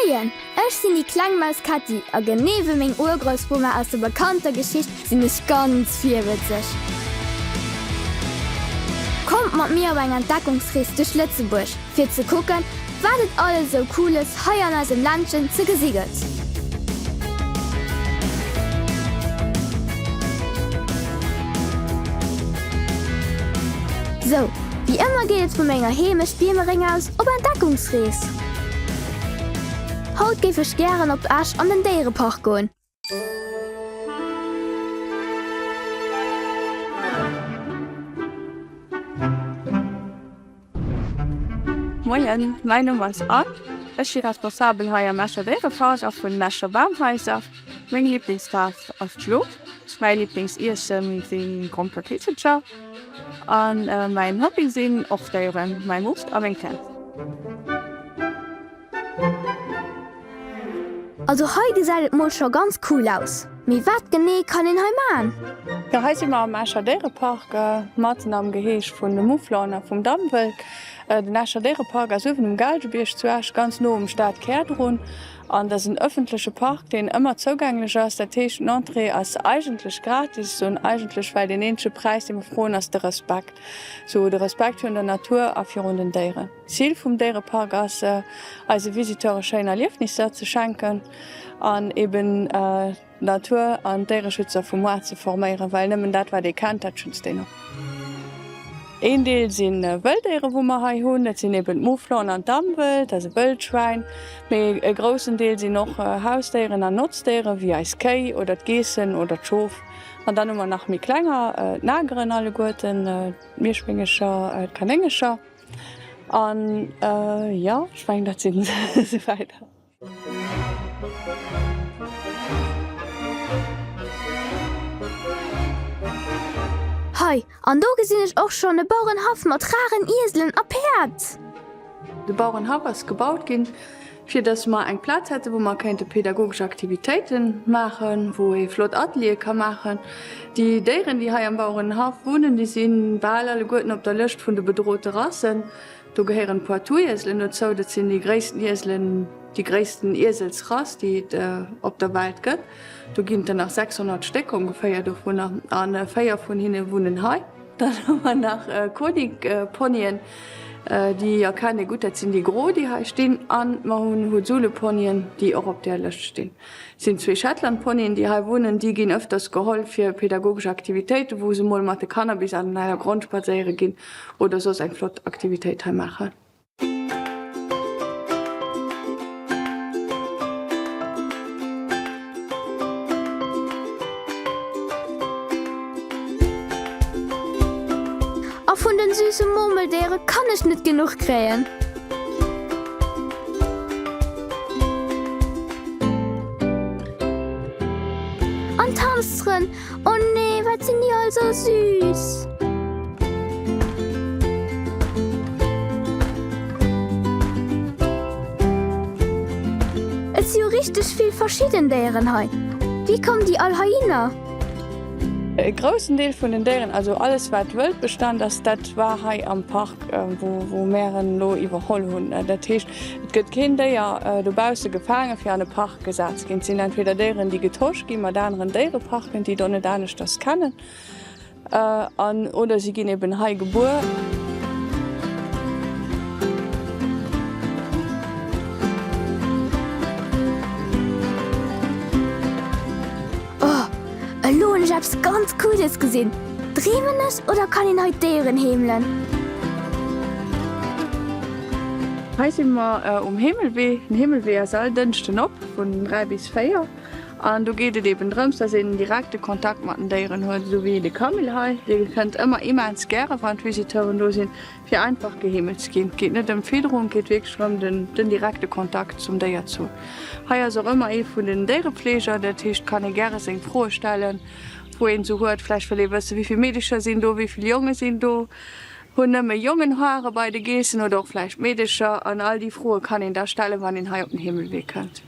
Moien, ech sinn déi kleng Maus Ketti a genee wéi meng Urgroussbummer aus der bekannter Geschicht sinn ech ganz virwëtzeg. Kommt mat mir op eng Entdeckungsrees duerch Lëtzebuerg fir ze kucken, wat et alles esou Cooles hei an eisem Ländchen ze gesi gëtt. Sou, wéi ëmmer geet et vu menger Heemecht Biemereng aus op Entdeckungsrees. Haut géif ech gären op Esch an den Déierepark goen. Moien, mäin Numm ass Anne, ech si Responsabel hei am Escher Déierepark a vun den Escher Bamhaiser. Meng Liblingsfaarf ass d'Schlo, mäi Liblingsiessen sinn Gromperkrippelcher. An mäin Hobby sinn och Déieren, mäi Mupp a meng Kaz. Also hei gesäit et mol scho ganz cool aus, mee wat genee kann een hei man? Jo hei si mer am Escher Déierepark matzen am Geheeg vun de Mouflonen a vum Dammwëld. Den Escher Déierepark ass uewen um Gaalgebierg zu Esch, ganz no um Stadkär drun. An dat ass en ëffentleche Park, deen ëmmer zougänglech ass. Dat heescht, den Entrée ass eigentlech gratis. Ech soen eigentlech, well deen eenzege Präis, dee mer froen, ass de Respekt. Esou de Respekt virun der Natur a virun den Déieren. D'Zil vum Déierepark ass, eise Visiteure schéin Erliefnisser ze schenken an eeben, Natur an Déiereschützer vum Moarn ze forméieren, well nëmmen dat wat ee kennt, dat schützt een och. Een Deel si Wëlldéiere wou mer hei hunn, dat sinn eben d'Mouflonen an d'Damwëld, also Wëldschwäin, mee e groussen Deel sinn och Hausdéieren an Notzdéiere wéi eis Kéi oder d'Geessen oder d'Schof. An dann hu mer nach méi klenger, d'Nageren alleguerten, d'Mierschwéngecher, d'Kanéngecher an jo, ech mengen dat si se esou weider. Hei an do gesinn ech och schonn e Bauerenhaff mat raren Ieselen a Päerd. De Bauerenhaff ass gebaut ginn, fir dass mer eng Plaz hätten, wou mer kéinte pädagogesch Aktivitéiten maachen, wou ee flott Ateliere ka maachen. Déi Déieren, déi hei am Bauerenhaff wunnen, déi si bal alleguerten op der Lëscht vun de bedrote Rassen. Do gehéieren d'Poitouieselen dozou, dat sinn déi gréissten Ieselen, déi gréissten Ieselsrass, déi et op der Welt gëtt. Do ginn et der nach 600 Stéck ongeféier dovunner a véier vun hinne wunnen hei. Dann hu mer nach Konig-Ponyen, déi erkennt ee gutt, dat sinn déi gro, déi hei stinn. An mer hunn Hutzule-Ponyen, déi och op där Lëscht stinn. Et sinn zwee Shetland-Ponyen, déi hei wunnen. Déi ginn ëfters geholl fir pedagogesch Aktivitéiten, wou se mol mat de Kanner bis an den Heidergrond spadséiere ginn. Oder soss eng flott Aktivitéit hei maachen. A vun den süssen Murmeldéieren kann ech net genuch kréien! O nee, wat sinn déi all sou süß! Et si jo richteg vill verschidden Déieren hei. Wéi kommen déi all heihinner? E groussen Deel vun den Déieren, also alles wat Wëldbestand ass, dat war hei am Park, wou mär en elo iwwerholl hunn. Dat heescht, et gëtt keen Déier dobausse gefaange fir an e Park. Gesat ginn. Et sinn entweder Déieren, déi getosch gi mat aneren Déiereparken, déi do net aneschters kennen, an oder si ginn eben hei gebuer. Oh, elo hunn ech eppes ganz Cooles gesinn. Dreemen ech oder kann een hei d'Déieren heemelen? Hei si mer um Heemelwee. Den Heemelwee ass all Dënschden op vun 3 bis 4 an do geet et eben drëms, dass een direkte Kontakt mat den Déieren huet, esou wéi de Camille hei. Dee kënnt ëmmer immens gäre wann d'Visiteuren do sinn. Fir einfach geheemelt ze ginn, geet net ëm Fiederung, geet wierklech rëm den direkte Kontakt zum Déier zu. Hei ass och ëmmer ee vun den Déierefleeger, dat heescht kann ee gäre seng Froe stellen, wou een se huet. Vläicht wëll ee wëssen, wéi vill Meedecher sinn do, wéi vill Jonge sinn do, hunn nëmme Jongen Hare bei de Geessen oder och vläicht Meedecher? An all déi Froe kann een da stellen, wann een hei op den Heemelwee kënnt.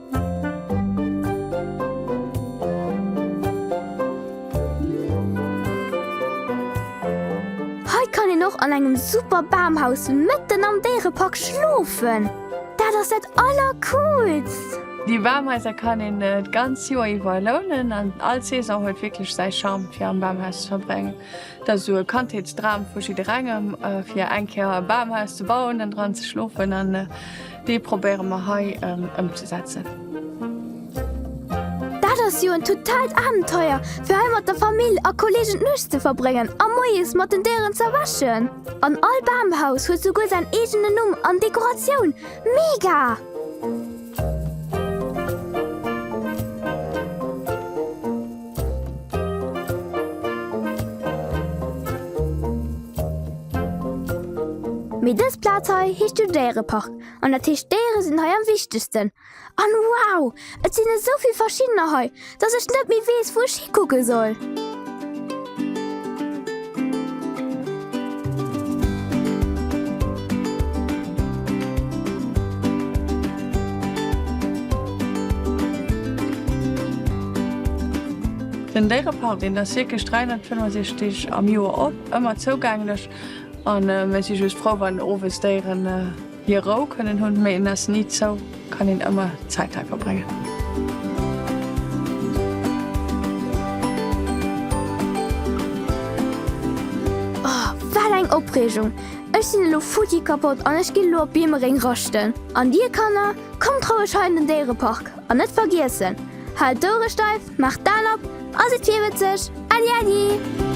Hei kann een och an engem super Bamhaus mëtten am Déierepark schlofen. Dat ass dat allercoolst! Déi Bamhaiser kann een d'ganz Joer iwwer lounen an all Saison huet wierklech säi Charme fir am Bamhaus ze verbréngen. Et ass esou e Kandheetsdram vu jidderengem fir eng Kéier e Bamhaus ze bauen an dran ze schlofen. Dee probéiere mer hei ëmzesetzen. Dat ass jo en totalt Abenteuer, fir hei mat der Famill a Kollegen d'Nuecht ze verbréngen a moies mat den Déieren z'erwächen. An all Bamhaus huet souguer säin eegenen Numm an Dekoratioun. Mega! Mee dës Plaz hei heescht jo Déierepark, an dat heescht d'Déiere sinn hei am wichtegsten. An wow, et sinn esou vill verschiddener hei, dass ech net méi weess, wou ech hikucke soll. Den Déierepark, deen ass wierklech 365 Deeg am Joer op, ëmmer zougänglech a mir si just frou wann owes Déieren Hir Rou kënnen hunn, mee en ass ni zou, kann een ëmmer Zäit hei verbréngen. Oh, wat eng Opreegung! Ech sinn elo futti kapott an ech ginn elo op Biemeréng raschten. An dir, Kanner, kommt roueg hei an den Déierepark! An net vergiessen, haalt d'Ouere steif, maacht d'Aen op a sidd virwëtzeg! Äddi, äddi!